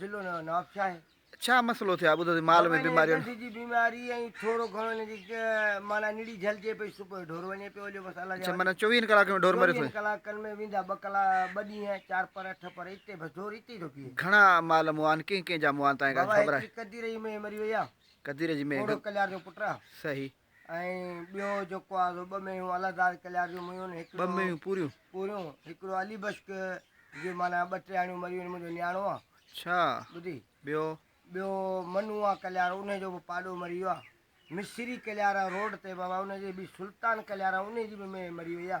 ضلعو نئون نواب شاهه آهي. ڇا مسئلو ٿيو آهي ٻڌو ٿي مال ۾ بيماري ڏند جي بيماري ۽ ٿورو گهڻو هن جي معنيٰ نڙي جهلجي پئي صبح جو ڍور وڃي پيو هليو بس الله جي اڇا معنيٰ چويهن ڪلاڪن ۾ ڍور مري ٿو وڃي چويهن ڪلاڪن ۾ ويندا ٻه ڪلا ٻه ڏينهن چار پهر اٺ پهر اتي بس ڍور اتي ئي ٿو بيهي گهڻا مال مئا آهن ڪنهن ڪنهن جا مئا آهن تانئين ڪا خبر آهي ڪدير جي مئي مري وئي آهي ڪدير جي مئي گهوڙو ڪليار جو پٽ آهي صحيح ۽ ٻيو جيڪو آهي سو ٻه مينهيون الله داد ڪليار جون ميون هڪڙو ٻه مينهيون پوريون پوريون هڪڙو علي بشڪ جي معنيٰ ٻه ٽيهاڻيون مريون منهنجو نياڻو آ اڇا ٻڌي ٻيو ٻيو منو آ ڪليار انهي جو به پاڏو مري ويو آ مصري ڪليار روڊ تي بابا انهي جي به سلطان ڪليار انهي جي به مينهن مري وئي آ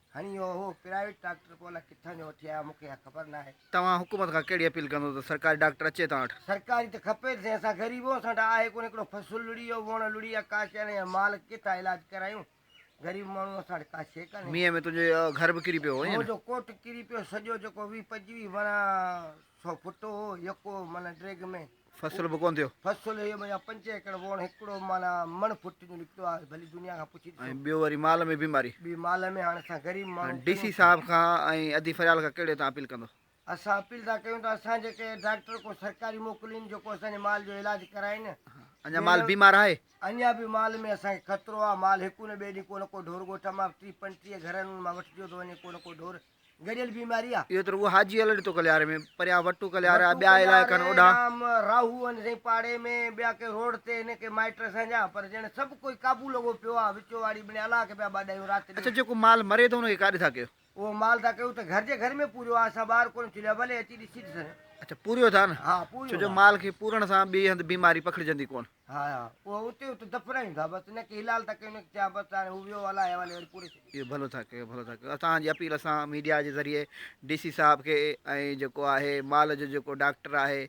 هني اهو هو پرائيويٽ ڊاڪٽر به الئ ڪٿان جو وٺي آيا مون کي اها خبر ناهي. توهان حڪومت کان ڪهڙي اپيل ڪندو ته سرڪاري ڊاڪٽر اچي توهان وٽ؟ سرڪاري ته کپي ته سهي اسان غريب اهو اسان وٽ آهي ڪونه هڪڙو فصل لڙي ويو وڻ لڙي ويا ڪا شي نه يا مال ڪٿان علاج ڪرايون غريب ماڻهو اسان وٽ ڪا شي ڪانهي. مينهن ۾ تنهنجو اهو گهر به ڪري پيو هو ائين نه؟ منهنجو ڪوٽ ڪري پيو سڄو جيڪو ويهه پنجويهه ورهه سو فوٽو هو يڪو من ڊريگ ۾. فصل به ڪونه ٿيو. فصل اهو مڃان پنج ايڪڙ ووڻ هڪڙو معنيٰ مڻ فٽ جو نڪتو آهي ڀلي دنيا کان پڇي ڏسو. ۽ ٻيو وري مال ۾ بيماري. ٻي مال ۾ هاڻي اسان غريب ماڻهو ڪيون ڊي سي ٿا. صاحب کان ۽ ادي فريال کان ڪهڙي تان اپيل ڪندو. اسان اپيل ٿا ڪيون ته اسان جي ڪنهن ڊاڪٽر ڪو سرڪاري موڪلين جيڪو اسان جي مال جو علاج ڪرائين. اڃان مال بيمار آهي. اڃان به مال ۾ اسان کي خطرو آهي مال هڪ نه ٻئي ڏينهن ڪو نه ڪو ڍور ڳوٺ مان ٽيهه پنجٽيهه گهرن مان وٺجيو ٿو وڃي ڪو نه ڪو ڍور گڏيل بيماري آ. اهو تر اهو حاجي الهڏ تو ڪلياري ۾، پريان وٽو ڪلياري آ، ٻيا علائقا آهن اوڏانهن. وٽو ڪلياري، ڏام، راهو آهن سائين پاڙي ۾، ٻيا ڪي روڊ تي آهن، ڪي مائٽ اسان جا، پر ڄڻ سڀ ڪوئي قابو لڳو پيو آ، وچو واڙي ٻني الله کي پيا ٻاڏايون رات ڏينهن. اڇا جيڪو مال مري ٿو ان کي ڪاڏي ٿا ڪيو؟ اهو مال ٿا ڪيون ته گهر جي گهر ۾ پوريو آ، اسان ٻاهر ڪونه چليو آ، ڀلي اچي ڏسي ڏسن. اڇا پوريو ٿا نه؟ ها پوريو ٿا. ڇو جو مال کي پورڻ سان ٻئي هنڌ بيماري پکڙجندي ڪونه. ها ها اهي اتي اتي دف رهين ٿا بس ان کي هلال ٿا ڪيون انکي چيا بس هاڻي هو ويو الائي حوالي وري پوري ڇڏي اهو ڀلو ٿا ڪيو ڀلو ٿا ڪيو اسان جي اپيل اسان ميڊيا جي ذريعي ڊي سي صاحب کي ۽ جيڪو آهي مال جو جيڪو ڊاڪٽر آهي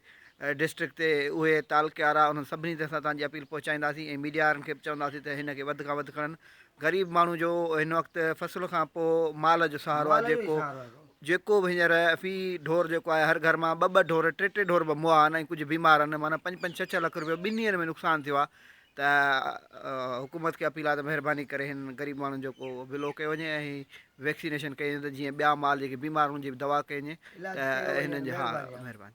ڊسٽرڪٽ تي اهي تعلقي وارا انهن سڀني تي اسان تانجي اپيل پهچائينداسين ۽ ميڊيا وارن کي به چونداسين ته هن کي وڌ کان وڌ کڻن غريب ماڻهو جو هن وقت فصل کان پوء مال جو سهارو آهي جيڪو جيڪو به هينئر في ڍور جيڪو آهي هر گهر مان ٻه ٻه ڍور ٽي ٽي ڍور به موئا آهن ۽ ڪجهه بيمار آهن معنيٰ پنج پنج ڇهه ڇهه لک رپيو ٻن ڏينهن ۾ نقصان ٿيو آهي ته حڪومت کي اپيل آهي ته مهرباني ڪري هن غريب ماڻهن جو ڪو بلو ڪيو وڃي ۽ ويڪسينيشن ڪئي وڃي ته جيئن ٻيا مال جيڪي بيمار هن جي به دوا ڪئي وڃي ته هنن جي ها مهرباني